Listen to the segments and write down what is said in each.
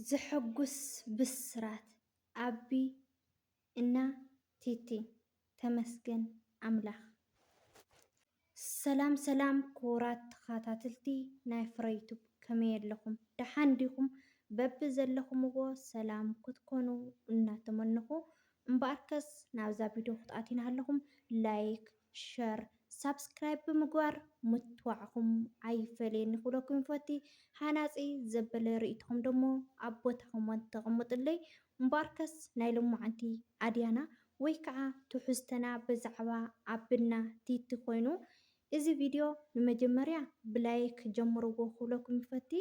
ዘሐጉስ ብስራት ኣቢ እና ቲቲ ተመስገን ኣምላክ። ሰላም ሰላም ክቡራት ተኻታትልቲ ናይ ፍረዩቱብ ከመይ ኣለኹም ዳሓን ዲኹም በቢ ዘለኹምዎ ሰላም ክትኮኑ እናተመነኹ እምበኣርከስ ናብዛ ቪድዮ ክትኣትዩ ናሃለኹም ላይክ ሸር ሳብስክራይብ ብምግባር ምትዋዕኹም ኣይፈለየኒ ክብለኩም ይፈቲ። ሃናጺ ዘበለ ርእይቶኹም ደሞ ኣብ ቦታ ኮመንት ተቐምጡለይ። እምበኣርከስ ናይ ሎማዓንቲ ኣድያና ወይ ከዓ ትሕዝቶና ብዛዕባ ኣብና ቲቲ ኮይኑ እዚ ቪድዮ ንመጀመርያ ብላይክ ጀምርዎ ክብለኩም ይፈቲ።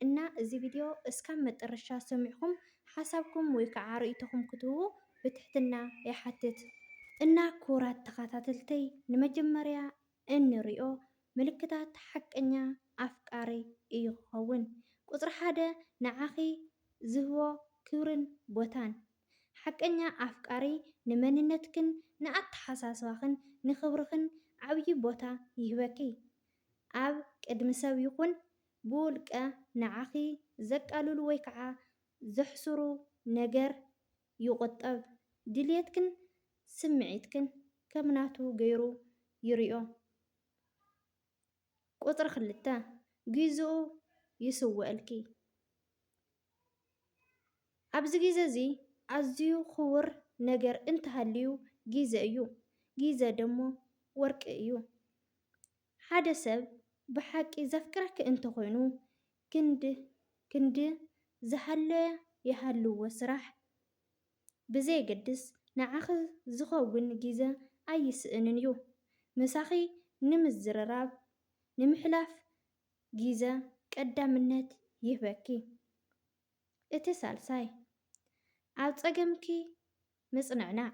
እና እዚ ቪድዮ እስካብ መጠረሻ ሰሚዕኩም ሓሳብኩም ወይ ከዓ ርእይቶኹም ክትህቡ ብትሕትና ይሓትት። እና ክቡራት ተኻታተልተይ ንመጀመርያ እንሪኦ ምልክታት ሓቀኛ ኣፍቃሪ እዩ ክኸውን። ቁፅሪ ሓደ ንዓኺ ዝህቦ ክብርን ቦታን። ሓቀኛ ኣፍቃሪ ንመንነትክን ንኣተሓሳስባኽን ንክብርኽን ዓብዪ ቦታ ይህበኪ። ኣብ ቅድሚ ሰብ ይኹን ብውልቀ ንዓኺ ዘቃልሉ ወይ ከዓ ዘሕስሩ ነገር ይቑጠብ። ድልየትክን ስምዒትክን ከም ናቱ ገይሩ ይሪኦ። ቁፅሪ ክልተ፣ ጊዝኡ ይስውእልኪ። ኣብዚ ጊዘ እዚ ኣዝዩ ክቡር ነገር እንተሃልዩ ጊዘ እዩ። ጊዘ ደሞ ወርቂ እዩ። ሓደ ሰብ ብሓቂ ዘፍቅረኪ እንተ ኾይኑ ክንድ ክንድ ዝሃለወ ይሃልዎ ስራሕ ብዘየገድስ ንዓኺ ዝኸውን ጊዘ ኣይስእንን ዩ። ምሳኺ ንምዝርራብ ንምሕላፍ ጊዘ ቀዳምነት ይህበኪ። እቲ ሳልሳይ ኣብ ጸገምኪ ምጽንዕናዕ።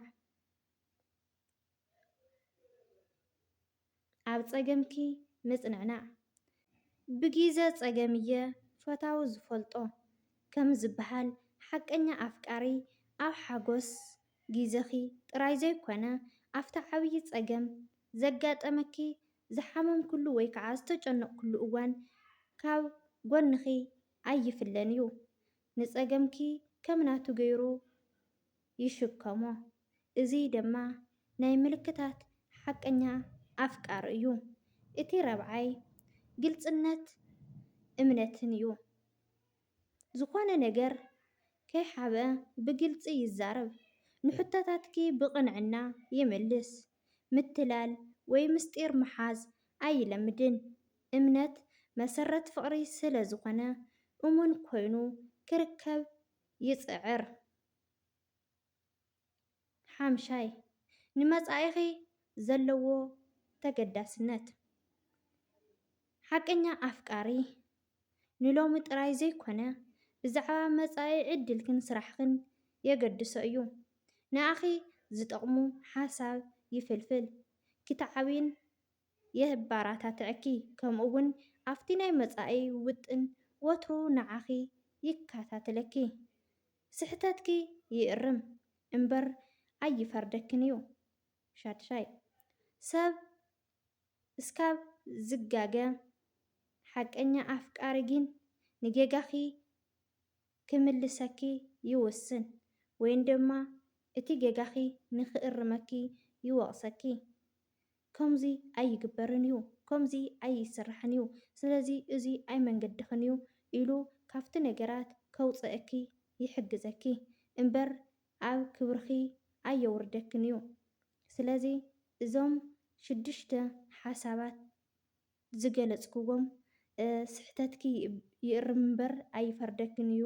ኣብ ጸገምኪ ምጽንዕናዕ ብጊዘ ጸገም'የ ፈታዊ ዝፈልጦ ከም ዝበሃል፣ ሓቀኛ ኣፍቃሪ ኣብ ሓጎስ ጊዘኺ ጥራይ ዘይኮነ ኣብቲ ዓብዪ ጸገም ዘጋጠመኪ፣ ዝሓመምክሉ ወይ ከዓ ዝተጨነቕክሉ እዋን ካብ ጎንኺ ኣይፍለን እዩ። ንጸገምኪ ከም ናቱ ገይሩ ይሽከሞ። እዙይ ደማ ናይ ምልክታት ሓቀኛ ኣፍቃር እዩ። እቲ ራብዓይ ግልፅነት እምነትን እዩ። ዝኾነ ነገር ከይሓብኣ ብግልፂ ይዛረብ፣ ንሕቶታትኪ ብቕንዕና ይምልስ፣ ምትላል ወይ ምስጢር ምሓዝ ኣይለምድን። እምነት መሰረት ፍቕሪ ስለዝኾነ እሙን ኮይኑ ክርከብ ይፅዕር። ሓምሻይ፣ ንመጻኢኺ ዘለዎ ተገዳስነት። ሓቀኛ ኣፍቃሪ፣ ንሎሚ ጥራይ ዘይኮነ፣ ብዛዕባ መጻኢ ዕድልክን ስራሕክን የገድሶ እዩ። ንኣኺ ዝጠቕሙ ሓሳብ ይፍልፍል፣ ክትዓብይን የባራታትዐኪ፣ ከምኡ'ውን ኣብቲ ናይ መጻኢ ውጥን ወትሩ ንዓኺ ይከታተለኪ። ስሕተትኪ ይእርም እምበር ኣይፈርደክን እዩ ሻድሻይ። ሰብ እስካብ ዝጋገ ሓቀኛ ኣፍቃሪ ጊን ንጌጋኪ ክምልሰኪ ይውስን ወይን ደማ እቲ ጌጋኪ ንክእርመኪ ይወቅሰኪ። ከምዚ ኣይግበርን እዩ፣ ከምዚ ኣይስራሕን እዩ፣ ስለዚ እዚ ኣይመንገድኽን እዩ ኢሉ ካብቲ ነገራት ከውጽኣኪ ይሕግዘኪ እምበር ኣብ ክብርኺ ኣየውርደክን እዩ። ስለዚ እዞም ሽዱሽተ ሓሳባት ዝገለጽክዎም ስሕተትኪ ይእርም እምበር ኣይፈርደክን እዩ፣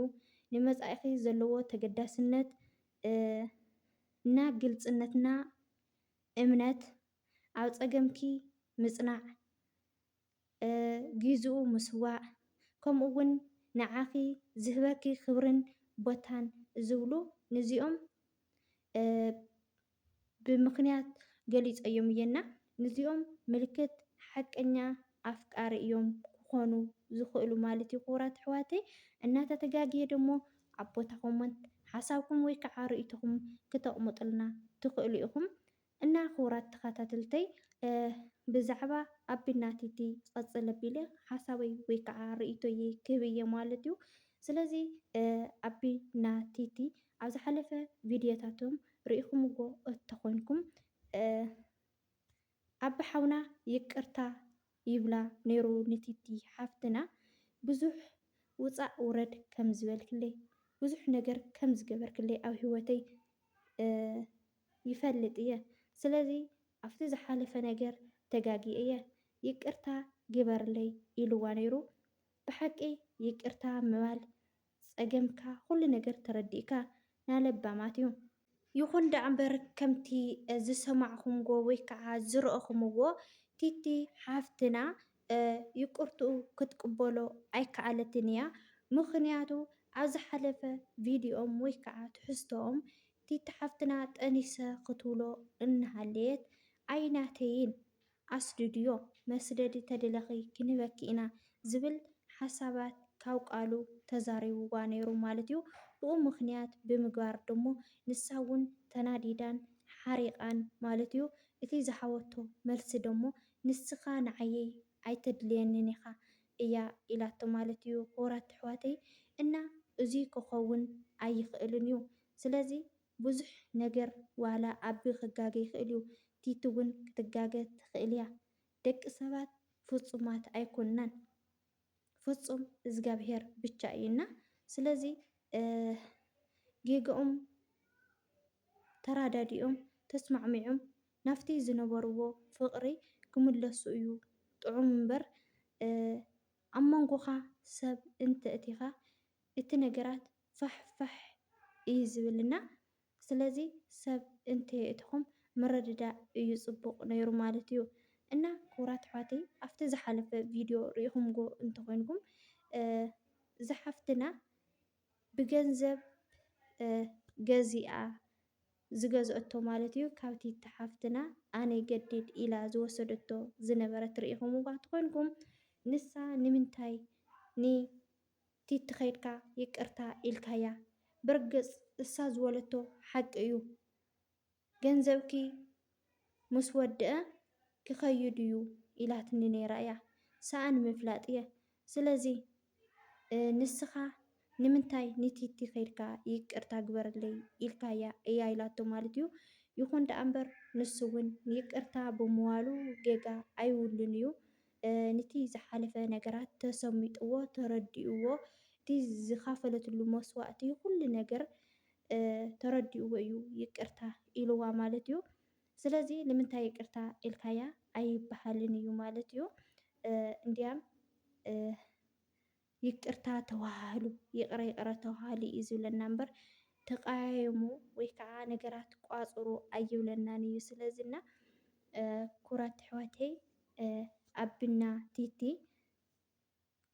ንመጻኢኺ ዘለዎ ተገዳስነት እና ግልጽነትና፣ እምነት፣ ኣብ ጸገምኪ ምጽናዕ፣ ጊዝኡ ምስዋእ፣ ከምኡ ውን ንዓኺ ዝህበኪ ክብርን ቦታን ዝብሉ ንዚኦም ብምኽንያት ገሊጸዮም እየ እና ንዚኦም ምልክት ሓቀኛ ኣፍቃሪ እዮም ክኮኑ ዝክእሉ ማለት እዩ ክቡራት ኣሕዋተይ እና ተተጋግየ ደሞ ኣብ ቦታ ኮሞንት ሓሳብኩም ወይ ካዓ ርእይቶኩም ክተቅሙጥልና ትክእሉ ኢኩም እና ክቡራት ተካታትልተይ ብዛዕባ ኣቢ ናቲቲ ክቅፅል ኣቢለ ሓሳበይ ወይ ካዓ ርእይቶይ ክህብ እየ ማለት እዩ ስለዚ ኣቢ እና ቲቲ ኣብ ዝሓለፈ ቪድዮታቶም ሪኢኩምዎ እተኮንኩም። ኣቢ ሓውና ይቅርታ ይብላ ነይሩ ንቲቲ ሓፍትና ብዙሕ ውጻእ ውረድ ከም ዝበልክለይ ብዙሕ ነገር ከም ዝገበርክለይ ኣብ ሂወተይ ይፈልጥ እየ ስለዚ ኣብቲ ዝሓለፈ ነገር ተጋግየ እየ ይቅርታ ግበርለይ ኢልዋ ነይሩ ብሓቂ ይቅርታ ምባል ጸገምካ ኩሉ ነገር ተረዲእካ ናለባማት እዩ። ይኹን ዳኣምበር ከምቲ ዝሰማዕኹምዎ ወይ ካዓ ዝረእኹምዎ ቲቲ ሓፍትና ይቅርትኡ ክትቅበሎ ኣይካኣለትን እያ ምኽንያቱ ኣብ ዝሓለፈ ቪድዮኦም ወይ ካዓ ትሕዝቶኦም ቲቲ ሓፍትና ጠኒሰ ክትብሎ እናሃለየት ኣይናተይን ኣስዱድዮ መስደዲ ተድለኺ ክንህበኪ ኢና ዝብል ሓሳባት ካብ ቃሉ ተዛሪቡዋ ነይሩ ማለት'ዩ። ብኡ ምኽንያት ብምግባር ድሞ ንሳ'ውን ተናዲዳን ሓሪቓን ማለት'ዩ። እቲ ዝሃበቶ መልሲ ድሞ ንስኻ ንዓይይ ኣይተድልየንን ኢኻ እያ ኢላቶ ማለት'ዩ። ክቡራት ኣሕዋተይ እና እዙይ ክኸውን ኣይኽእልን እዩ። ስለዚ ብዙሕ ነገር ዋላ ኣቢ ክጋገ ይክእል እዩ ቲቲ ውን ክትጋገ ትክእል እያ ደቂ ሰባት ፉጹማት ኣይኮናን ፉጹም እዝጋብሄር ብቻ እዩ እና ስለዚ ጌገኦም ተራዳዲኦም ተስማዕሚዑም ናፍቲ ዝነበርዎ ፍቅሪ ክምለሱ እዩ ጥዑም እምበር ኣብ መንጎካ ሰብ እንተ እቲካ እቲ ነገራት ፋሕ ፋሕ እዩ ዝብልና ስለዚ ሰብ እንተየእትኹም ምርድዳእ እዩ ጽቡቅ ነይሩ ማለት እዩ እና ክቡራት ኣሕዋተይ ኣብቲ ዝሓለፈ ቪድዮ ሪኢኹምዎ እንተኾይንኩም እዛ ሓፍትና ብገንዘብ ገዚኣ ዝገዝኦቶ ማለት እዩ ካብቲ ሓፍትና ኣነ ገዲድ ኢላ ዝወሰደቶ ዝነበረት ሪኢኹምዋ እንተኾይንኩም ንሳ ንምንታይ ን ቲቲ ከይድካ ይቅርታ ኢልካያ ብርግጽ እሳ ዝወለቶ ሓቂ እዩ ገንዘብኪ ምስ ወደኣ ክከይድ እዩ ኢላትኒ ነይራ እያ ሰኣ ንምፍላጥ እየ ስለዚ ንስካ ንምንታይ ንቲቲ ከይድካ ይቅርታ ግበርለይ ኢልካያ እያ ኢላቶ ማለት እዩ ይኩን ደኣ እምበር ንሱ እውን ይቅርታ ብምባሉ ጌጋ ኣይብሉን እዩ ንቲ ዝሓለፈ ነገራት ተሰሚጥዎ ተረዲእዎ እቲ ዝኻፈለትሉ መስዋእቲ ኩሉ ነገር ተረዲእዎ እዩ ይቅርታ ኢልዋ ማለት እዩ ስለዚ ንምንታይ ይቅርታ ኢልካያ ኣይብሃልን እዩ ማለት እዩ እንድያም ይቅርታ ተዋሃህሉ ይቅረ ይቅረ ተዋሃሃሉ እዩ ዝብለና እምበር ተቀያየሙ ወይ ከዓ ነገራት ቋፅሩ ኣይብለናን እዩ ስለዚ እና ክቡራት ኣሕዋተይ ኣቢና ቲቲ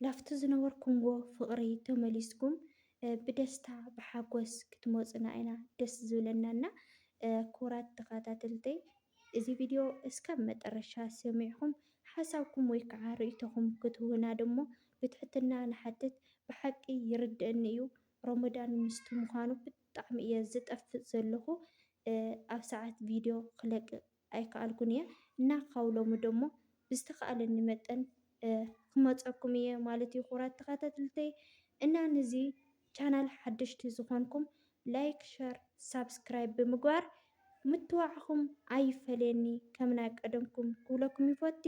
ላፍቲ ዝነበርኩምዎ ፍቅሪ ተመሊስኩም ብደስታ ብሓጎስ ክትመፁና ኢና ደስ ዝብለና እና ክቡራት ተከታተልተይ እዚ ቪድዮ እስካብ መጠረሻ ሰሚዕኹም ሓሳብኩም ወይ ከዓ ርኢቶኹም ክትህቡና ደሞ ብትሕትና ንሓትት ብሓቂ ይርደእኒ እዩ ሮሞዳን ምስቲ ምዃኑ ብጣዕሚ እየ ዝጠፍእ ዘለኹ ኣብ ሰዓት ቪድዮ ክለቅቅ ኣይከኣልኩን እየ እና ካብ ሎሚ ደሞ ብዝተኻኣለኒ መጠን ክመፀኩም እየ ማለት እዩ ክቡራት ተኻታተልተይ እና ንዚ ቻናል ሓደሽቲ ዝኾንኩም ላይክ ሸር ሳብስክራይብ ብምግባር ምትብባዕኹም ኣይፈለየኒ ከም ናይ ቀደምኩም ክብለኩም ይፎቲ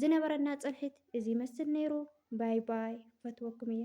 ዝነበረና ፅንሒት እዚ ይመስል ነይሩ ባይ ባይ ፈትወኩም እየ።